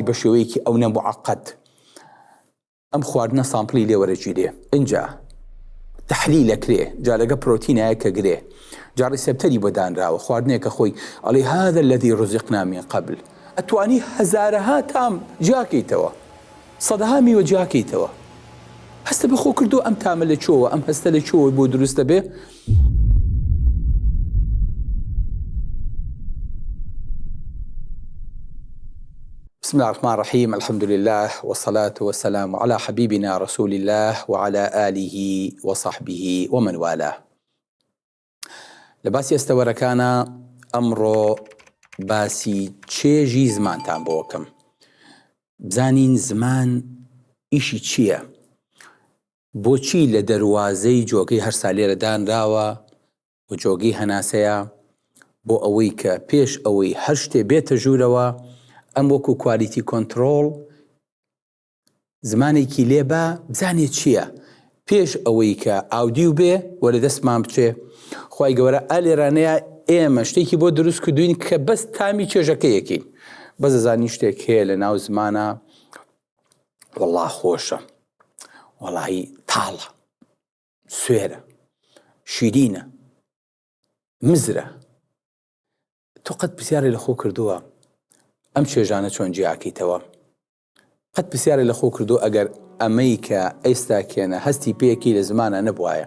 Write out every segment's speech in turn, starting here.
بە شێوەیەکی ئەونە موعەقەد ئەم خواردنە سامپڵی لێ وەرەگیرێ ئینجا تحلیل ئەکرێ جا لەگە پرۆتینایە کە گرێ جا ڕیسپتەری بۆ دانراوە خواردنێکە خۆی ئەڵێ هذا الذي رزقنا من قبل ئەتوانی هەزارەها تام جیاکەیتەوە سەدەها میوە جیاکەیتەوە هەستە بەخۆ کردو ئەم تامە لە چۆوە ئەم هەستە لە چۆوە بۆ دروستە بێ بسم اللە الرحمن الرحیم الحمد للە والصلاة والسلام علی حبیبنا رسول اللە وعلی آله وصحبه ومن والاه لە باسی ئەستەوەرەکانا ئەمڕۆ باسی چێژی زمانتان بۆکەم بزانین زمان ئیشی چییە؟ بۆچی لە دەروازەی جۆگەی هەرسا لێرە دانراوە و جۆگەی هەناسەیە؟ بۆ ئەوەی کە پێش ئەوەی هەر شتێ بێتە ژوورەوە ئەم وەکو کوالیتی کۆنتڕۆڵ زمانێکی لێ با بزانێ چییە پێش ئەوەی کە ئاودیو بێ و لە دەستمان بچێ خی گەورە ئا لێرانەیە ئێمە شتێکی بۆ دروست کردوین کە بەس تامی چێژەکەیەکین بەزەزانی شتێک هەیە لە ناو زمانە وەڵا خۆشە وەڵایی تاڵە سوێرە شیرینە مزرە تۆ قەت پرسیارە لە خۆ کردووە ئەم چێژانە چۆن جیاکەیتەوە قەت پرسیارە لە خۆ کردو ئەگەر ئەمەی کە ئێستا کێنە هەستی پێکی لە زمانە نەبواە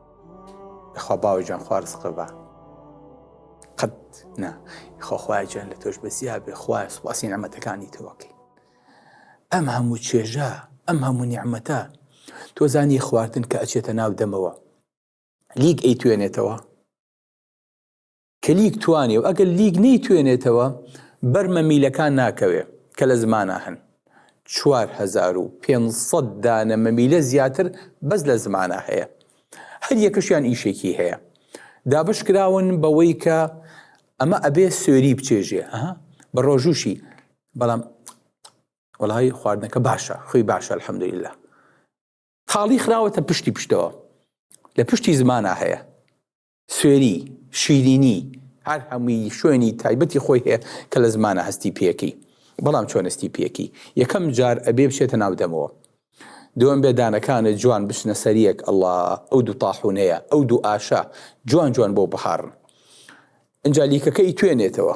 خوا باوە جان خوارد سقبە قەت نا خۆخوای جان لە تۆش بەسیا بێ خوای سوپاسی نەمەتەکانی تۆکەین ئەم هەموو چێژە ئەم هەموو نیعممەتە تۆ زانی خواردن کە ئەچێتە ناو دەمەوە لیک ئەی توێنێتەوە کە لیک توانێ و ئەگەر لیک نەیتوێنێتەوە بەر مەمیلەکان ناکەوێ کە لە زمانا هەن چوار هەزار و پێنج سەد دانە مەمیلە زیاتر بەس لە زمانا هەیە هەر یەکەشیان ئیشێکی هەیە دابش کراون بەوەی کە ئەمە ئەبێ سوێری بچێژێ ئەها بە ڕۆژوشی بەڵام وەڵی خواردنەکە باشە خوی باشە الحەمدللا تاڵی خراوەتە پشتی پشتەوە لە پشتی زمانە هەیە سوێری، شیرینی، هەر هەمووی شوێنی تایبەتی خۆی هەیە کە لە زمانە هەستی پێکەی بەڵام چۆن هەستی پێکەی یەکەم جار ئەبێ بچێتە ناو دەمەوە دووەم بێ دانەکانت جوان بچنە سەریەک ئەڵا ئەو دوو تاحونەیە ئەو دوو ئاشە جوان جوان بۆ بهاڕن ئەجا لیکەکەی توێنێتەوە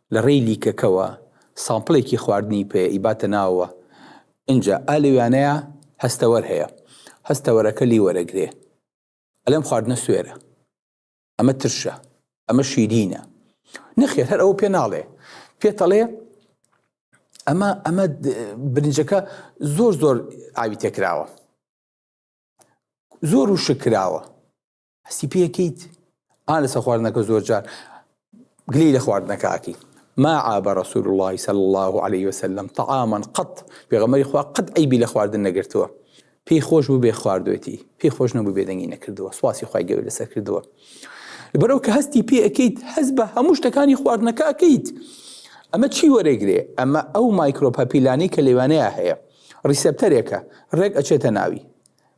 لە ڕێی لیکەکەوە سامپڵێکی خواردنی پێ ئیباتە ناوەوە ئنجا ئا لەویانەیا هەستەوەر هەیە هەستەوەرەکە لی وەرەگرێ ئەلێم خواردنە سوێرە ئەمە ترشە ئەمە شیرینە نەخێر هەر ئەوە پێ ناڵێ پێتەڵێ ئەمە ئەمە برنجەکە زۆر زۆر ئاوی تێکراوە زۆر و شکراوە هەستی پێکەیت ئا لەسە خواردنەکە زۆر جار گلی لە خواردنەکەکی ما عاب رسول الله صلى الله عليه وسلم طعاما قط پێغەمەری خوا قەت ئەیبی لە خواردن نەگرتووە پێی خۆش بوو بێ خواردوێتی پێی خۆش نەبوو بێدەنگی نەکردووە سواسی خی گەور لەسەر کردووە بەرەو کە هەستی پێ ئەەکەیت هەز بە هەموو شتەکانی خواردنەکە ئەەکەیت ئەمە چی وەرەگرێ ئەمە ئەو مایکرۆپەپیلانی کە لەوانەیە هەیە ڕیسپتەرێکە ڕێک ئەچێتە ناوی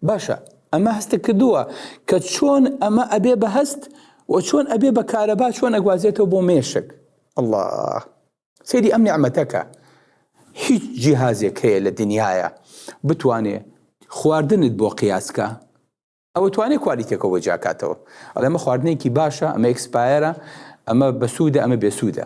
باشە ئەمە هەستت کردووە کە چۆن ئەمە ئەبێ بە هەست و چۆن ئەبێ بە کارەبا چۆن ئەگوازێتەوە بۆ مێشک الله سەیری ئەم نیعمەتەکە هیچ جیهازێک هەیە لە دنیاە بتوانێ خواردنت بۆ قیاسکە ئەوە توانێ کوالیتێکەوە بە جاکاتەوە ئەڵێمە خواردنێکی باشە ئەمە ئەکسپایەرە ئەمە بەسوودە ئەمە بێسوودە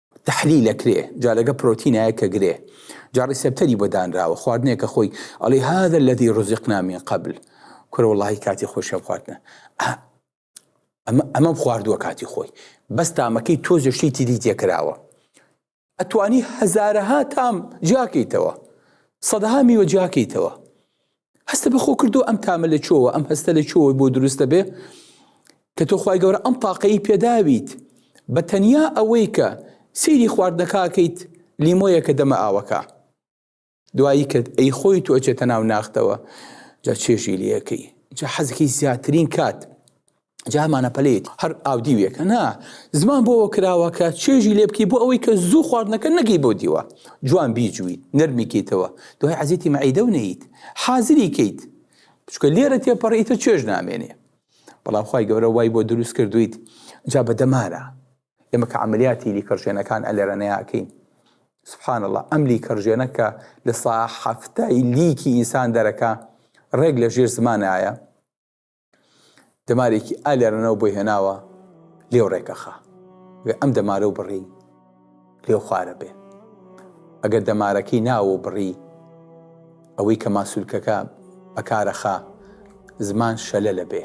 تەحلیل ئەکرێ جا لەگە پرۆتینایە کە گرێ جا ڕیسێپتەری بۆ دانراوە خواردنێکە خۆی ئەڵێ هذا الذي رزقنا من قبل کورە وڵی کاتی خۆشیان خواردنە ئەمە ئەمەم خواردووە کاتی خۆی بەس تامەکەی تۆزە شتی تری تێکراوە ئەتوانی هەزارەها تام جیاکەیتەوە سەدەها میوە جیاکەیتەوە هەستە بە خۆ کردو ئەم تامە لە چۆوە ئەم هەستە لە چۆوە بۆ دروستە بێ کە تۆ خی گەورە ئەم تاقەی پێداویت بە تەنیا ئەوەی کە سیری خواردنەکەکەیت لیمۆیە کە دەمە ئاوەکە دوایی کرد ئەی خۆی تۆ ئەچێتە ناو ناختەوە جا چێژی لەکەی جا حەزەکەی زیاترین کات جا هەمانە پەلەیەتی هەر ئاودیوێکە نا زمان بۆەوە کراوە کە چێژی لێ بکەی بۆ ئەوەی کە زوو خواردنەکە نەگەی بۆ دیوە جوان بیجووی نەرمیکەیتەوە دوای عزیێتی مەعیدە و نیت حازری کەیت بچکە لێرە تێپەڕیتە چێژ نامێنێ بەڵام خی گەورە وای بۆ دروست کردویت جا بە دەمارە ئێمە کە عملیاتی لیکڕژێنەکان ئەلێرەنەیەکەین سبحان الله ئەم لیکڕژێنە کە لە سا حفتای لیکی ئینسان دەرەکە ڕێک لە ژێر زمانایە دەمارێکی ئا لێرەنەوە بۆی هێناوە لێو ڕێکەخا وێ ئەم دەمارە و بڕی لێو خوارە بێ ئەگەر دەمارەکەی ناوە و بڕی ئەوەی کە ماسوولکەکە بەکارەخا زمان شەلە لە بێ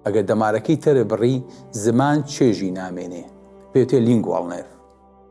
ئەگەر دەمارەکەی تەرە بڕی زمان چێژی نامێنێ پێتێ لینگواڵنێف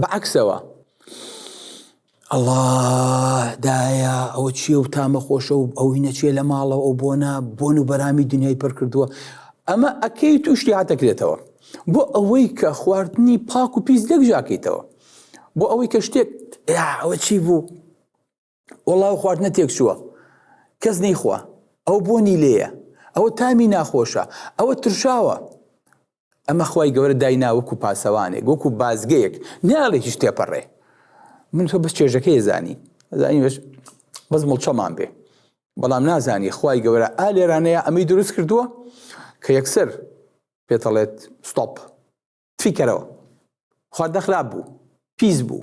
بەعکسەوە ئەڵا دایە ئەوە چیە و تامە خۆشە و ئەوی نەچێ لە ماڵەوە ئەو بۆنە بۆن و بەرامی دنیای پڕ کردووە ئەمە ئەکەی توشتی هاتەکرێتەوە بۆ ئەوەی کە خواردنی پاک و پیس لەک ژاکەیتەوە بۆ ئەوەی کە شتێک ئەوە چی بوو وەڵا ئەو خواردنە تێکچووە کەس نەیخوا ئەو بۆنی لێیە ئەوە تامی ناخۆشە ئەوە ترشاوە ئەمە خی گەورە داینا وەکو پاسەوانێک وەکو بازگەیەک ناڵێ هیچ تێپەڕێ من تۆ بەس چێژەکەی زانی زانی بەس بەس مڵچەمان بێ بەڵام نازانی خی گەورە ئا لێرانەیە ئەمەی دروست کردووە کە یەکسەر پێتەڵێت ستۆپ فیکەرەوە خواردە خراپ بوو پیس بوو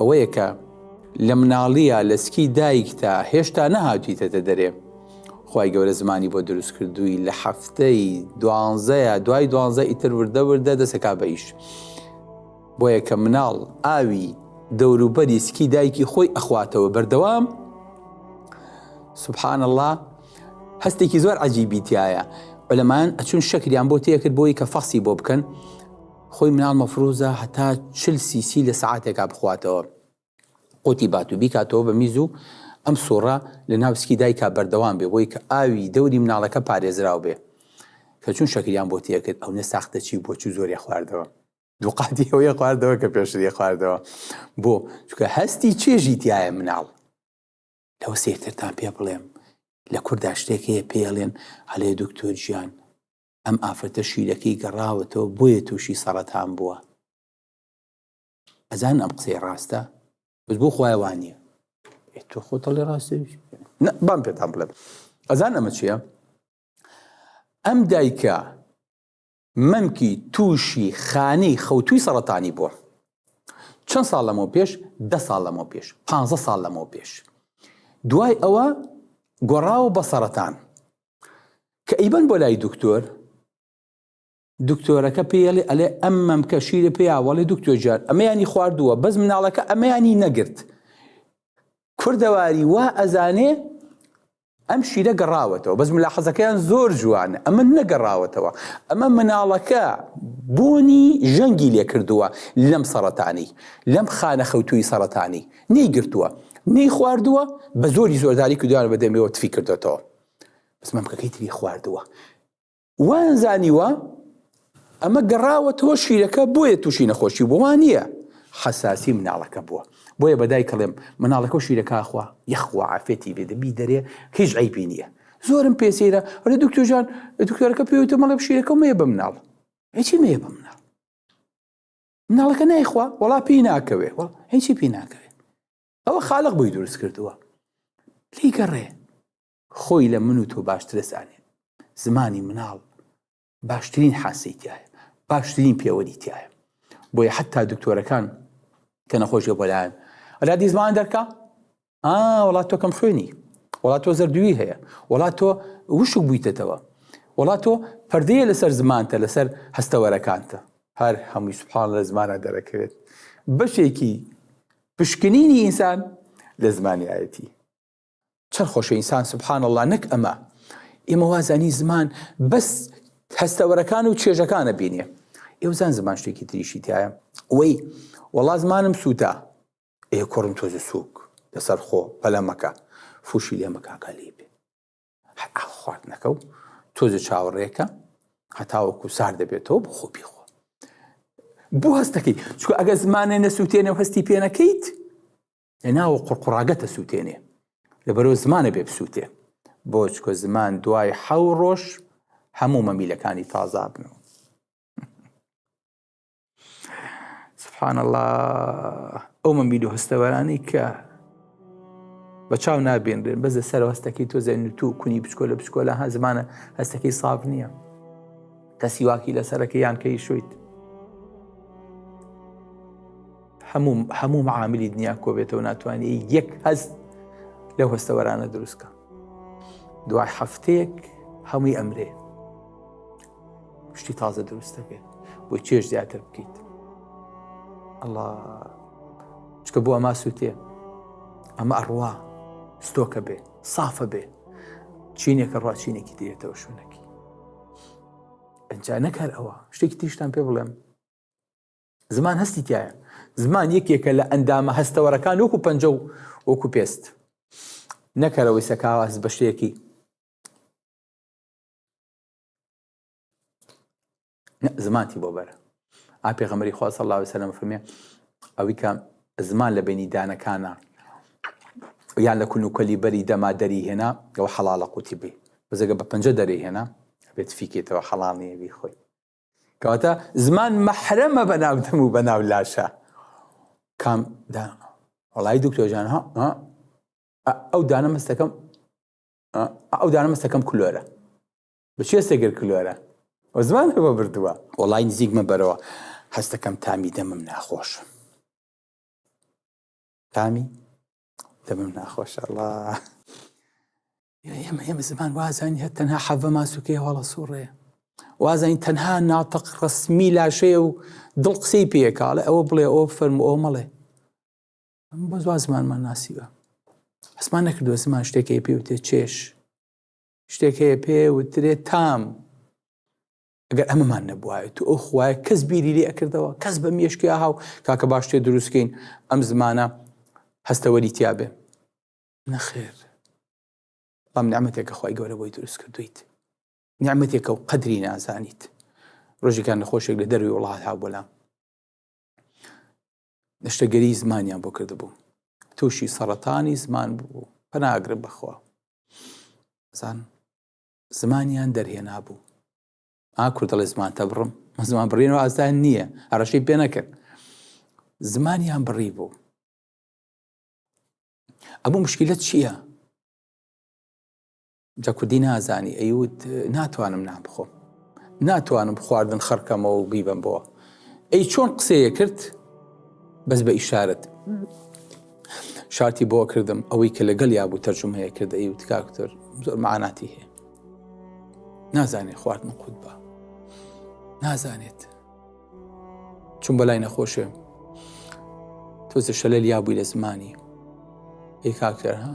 ئەوەیە کە لە مناڵیە لە سکی دایکتا هێشتا نەهاتیتەتە دەرێ خی گەورە زمانی بۆ دروست کردووی لە هەفتەی دوانزەیە دوای دوانزە ئیتر وردە وردە دەسەکا بە ئیش بۆ یەکە مناڵ ئاوی دەوروبەری سکی دایکی خۆی ئەخواتەوە بەردەوام سبحان الله هەستێکی زۆر عجیبیتایە بەلەمان ئەچون شەکریان بۆ تێکرد بۆی کە فەخسی بۆ بکەن خۆی مناڵ مەفروزە هەتا چل سی سی لە سەعاتێکا بخواتەوە قوتی باتو بیکاتەوە بە میز و ئەم سوڕە لە ناو سکی دایکا بەردەوام بێ بۆی کە ئاوی دەوری مناڵەکە پارێزراو بێ کە چون شەکریان بۆ تێکرد ئەونە ساختە چی بۆ چو زۆریە خواردەوە دوقاتی ئەوەیە خواردەوە کە پێشتری خواردەوە بۆ چکە هەستی چێژی تایە مناڵ لەوە سێرترتان پێ بڵێم لە کوردا شتێک هەیە پێڵێن هەلێ دکتۆر گیان ئەم ئافرەتە شیرەکەی گەڕاوەتەوە بۆیە تووشی سەڕەتان بووە ئەزان ئەم قسەی ڕاستە بس بۆ خخوای وانە تۆ خۆتە لە ڕاستە بام پێتان بڵێت ئەزان ئەمە چیە ئەم دایکە مەمکی تووشی خانی خەوتوی سەڵەتانی بووە چەند ساڵ لەمەوە پێش ده ساڵ لەمەوە پێش پ ساڵ لەمەوە پێش دوای ئەوە گۆڕاوە بە سەرەتان کە ئیبەن بۆ لای دکتۆر دکتۆرەکە پێڵێ ئەلێ ئەم مەمکە شیرە پێیاوەڵی دکتۆر جار ئەمەیانی خواردووە بەس مناڵەکە ئەمەیانی نەگرت کوردەواری وا ئەزانێ ئەم شیرە گەڕاوەتەوە بەس ملا حەزەکەیان زۆر جوانە ئەمە نەگەڕاوەتەوە ئەمە مناڵەکە بۆنی ژەنگی لێ کردووە لەم سەرەتانی لەم خانە خەوتوی سەرەتانی نەیگرتووە نەی خواردووە بە زۆری زۆرداری کردوان بە دەمێەوە تفی کردێتەوە سمەمکەکەی تری خواردووە وایان زانیوە ئەمە گەڕاوەتەوە شیرەکە بۆیە تووشی نەخۆشی بۆوان نییە حەساسی مناڵەکە بووە بۆیە بەدای کڵێم مناڵەکە و شیرەکەخوا یخوا عافێتی بێ دەبی دەرێ هیچ ئەیبی نییە زۆرم پێسیرە ڕێ دکتۆژان دکتۆرەکە پێوتە مەڵێ شیرەکە مێ بە مناڵ هیچی مێ بە مناڵ مناڵەکە نایخوا وڵا پێی ناکەوێ هیچی پێی ناکەوێ ئەوە خالق بۆی دروست کردووە لێی گەڕێ خۆی لە من و تۆ باشترە زانێ زمانی مناڵ باشترین حاسی تایە باشترین پێوەری تایە بۆیە حتا دکتۆرەکان کە نەخۆشیە بۆلایەن ئەلا دیزمان دەرکە وڵات تۆکەم خوێنی وڵات تۆ زەردووی هەیە وڵات تۆ وشک بوویتەتەوە وڵات تۆ پردەیە لەسەر زمانتە لەسەر هەستەوەرەکانتە هەر هەمووی سوپان لە زمانە دەرەکەوێت بەشێکی پشکنینی ئینسان لە زمانی ئایەتی. چەن خۆشە ئینسان سبحان اللە نەک ئەمە ئێمە وازانی زمان بەس هەستەوەرەکان و چێژەکانە بینێ ئێوزان زمان شتێکی تریشی تایە وەی وەڵا زمانم سووتا ئێ کوڕم تۆزە سووک لەسەر خۆ پەلەمەکە فوشی لێمەکاکە لێ بێ خواردنەکە و تۆزە چاوەڕێکە هەتاوەکو سار دەبێتەوە بۆ خۆ پێخۆ بۆ هەستەکەی چکو ئەگە زمانێ نەسووتێنە و هەستی پێ نەکەیت لە ناوە قڕقڕاگەتە سووتێنێ لە بەرەو زمانە بێ بسووتێ بۆ چکۆ زمان دوای حەو ڕۆژ هەموو مەمیلەکانی تازابنەوە سبحان الله ئەو من بیدو هەستەوەرانی کە بە چاو نابێنرێن بەزە سەر هەستەکەی تۆ زەین تو کونی بچکۆ لە بچکۆ لە هە زمانە هەستەکەی ساف نییە کە سیواکی لە سەرەکە یان کەی شویت هەموو هەموو معاملی دنیا کۆبێتەوە ناتوانانی یەک هەست لەو هەستەوەرانە دروستکە دوای هەفتەیەک هەمووی ئەمرێ شتی تازە دروست دەبێت بۆی چێش زیاتر بکەیت ئەڵا چکە بۆ ئەما سووتێ ئەمە ئەڕوا ستۆکە بێ سافە بێ چینێکە ڕاچینێکی دێتەوە شوونەکی ئەجا نەکار ئەوە شتێکی تیشتان پێ بڵێم زمان هەستی تایە زمان یەکێکە لە ئەندامە هەستەوەرەکان وەکو پەنج و وەکو پێست نەکەرەوەی سەکاواز بە شتێکی زمانتی بۆ بەرە ئا پێغەمەری خوا صلی الله عليه وسلم فەرمێ ئەوی کە زمان لە بینی دانەکانە یان لە کون و کەلی بەری دەما دەری هێنا ئەوە حەڵاڵە قوتی بی بەزەگە بە پەنجە دەری هێنا بێت فیکێتەوە حەڵاڵ نیە بی خۆی کەواتە زمان مەحرەمە بە ناودەم و بە ناو لاشە کام دا وڵی دکتۆژان ها ئەو دانە مەستەکەم ئەو دانە مەستەکەم کلۆرە بچێ سێگر کلۆرە و زمان بە بردووە وڵی نزیکمە بەرەوە هەستەکەم تامی دەمم ناخۆش تامی دەمم ناخۆش ئەڵا ئێمە ئێمە زمان وازانی هە تەنها حەڤە ماسوکەی هەڵە سوڕێ وازانی تەنها ناتەق ڕسمی لاشەیە و دڵ قسەی پێکاڵێ ئەوە بڵێ ئەو فەرم ئەو مەڵێ بۆ زوا زمانمان ناسیوە حسمان نەکردووە زمان شتێکی پێ وتێ چێش شتێک هەیە پێ وترێ تام ئەگەر ئەمەمان نەبواە تو ئەو خوایە کەس بیری لێ ئەکردەوە کەس بە مێشکی ئاهاو کاکە باش تێ دروستکەین ئەم زمانە هەستەوەری تیاابێ نەخێر بەڵام نعممەتێکە خی گەورە بۆی دروست کردویت نعممەتێکە و قەدری نازانیت ڕۆژێکان نەخۆشێک لە دەروی وڵات ها بۆلام نەشتەگەری زمانیان بۆ کردبوو تووشی سەڕەتانی زمان بوو پەناگرم بەخوا زان زمانیان دەرهێنا بوو ئاکور دەڵێ زمانتە بڕم زمان بڕین و ئازدان نییە هەڕەشەی پێ نەکرد زمانیان بڕی بوو ئەمە مشکلت چییە؟ جا کوردی نازانی ئەیوت ناتوانم نان بخۆم ناتوانم خواردن خڕکەمەوە و بیبم بۆ ئەی چۆن قسەیە کرد بەس بە ئیشارەت شارتی بۆ کردم ئەوەی کە لەگەڵ یا بوو تەرجمەیە کرد ئەی وتکاکتر زۆر معناتی هەیە نازانێت خواردن قوت بە نازانێت چون بەلای نەخۆشێ تۆزە شەلەل یا بووی لە زمانی ئەی کاکتەر ها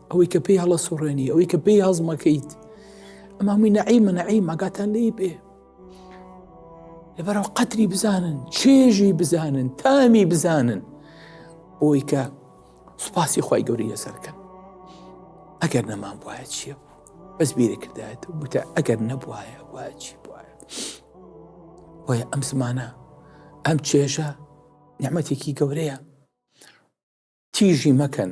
ئەوەی کە پێی هەڵە سوڕێنی ئەوەی کە پێی هەزمەکەیت ئەم هەمووی نەعیمە نەعیم ئاگاتان لێی بێ لەبەرەوە قەتری بزانن چێژی بزانن تامی بزانن بۆی کە سوپاسی خی گەوری لەسەرکەن ئەگەر نەمان وایە چیە بوو بەس بیرە کردایەت وتە ئەگەر نەبواە وایە چی بواە وایە ئەم زمانە ئەم چێژە نعممەتێکی گەورەیە تیژی مەکەن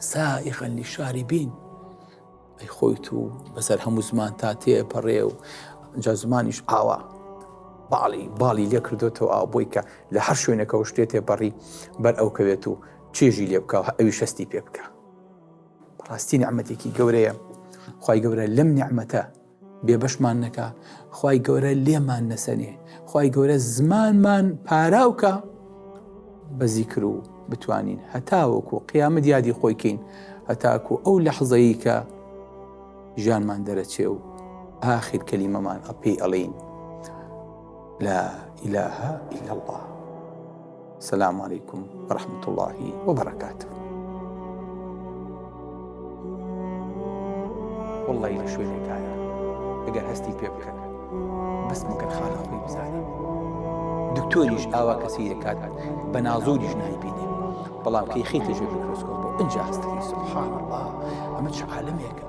سائغا للشاربین ئەی خۆی تو بەسەر هەموو زمان تا تێپەڕێ و جا زمانیش ئاوا باڵی باڵی لێ کردوێتەوە ئاو بۆی کە لە هەر شوێنەکەەوە شتێ تێپەڕی بەر ئەو کەوێت و چێژی لێ بکە ئەوی شەستی پێ بکە ڕاستی نعممەتێکی گەورەیە خی گەورە لەم نعممەتە بێبەشمان نەکا خی گەورە لێمان نەسەنێ خی گەورە زمانمان پاراوکە بەزی کرد و بتوانین هەتاوەکو قیامە دیادی خۆیکەین هەتاکو ئەو لە حەزەیی کە ژیانمان دەرەچێ و ئاخیر کەلیمەمان ئەپی ئەڵین لا ئیلاها ئیلا الله. سلام علیکم ورحمة الله وبرکاته والله لە شوێنێکایە ئەگەر هەستی پێ بکەن بەس مەگەر خانە خۆی بزانین دکتۆریش ئاوا کەسی دەکات بە نازۆریش نای بینێ بەڵام کەی خیتە ژێ میکرۆسکۆپ بۆ ئەجا هەستەکەی سبحان الله ئەمە چ عالمێکە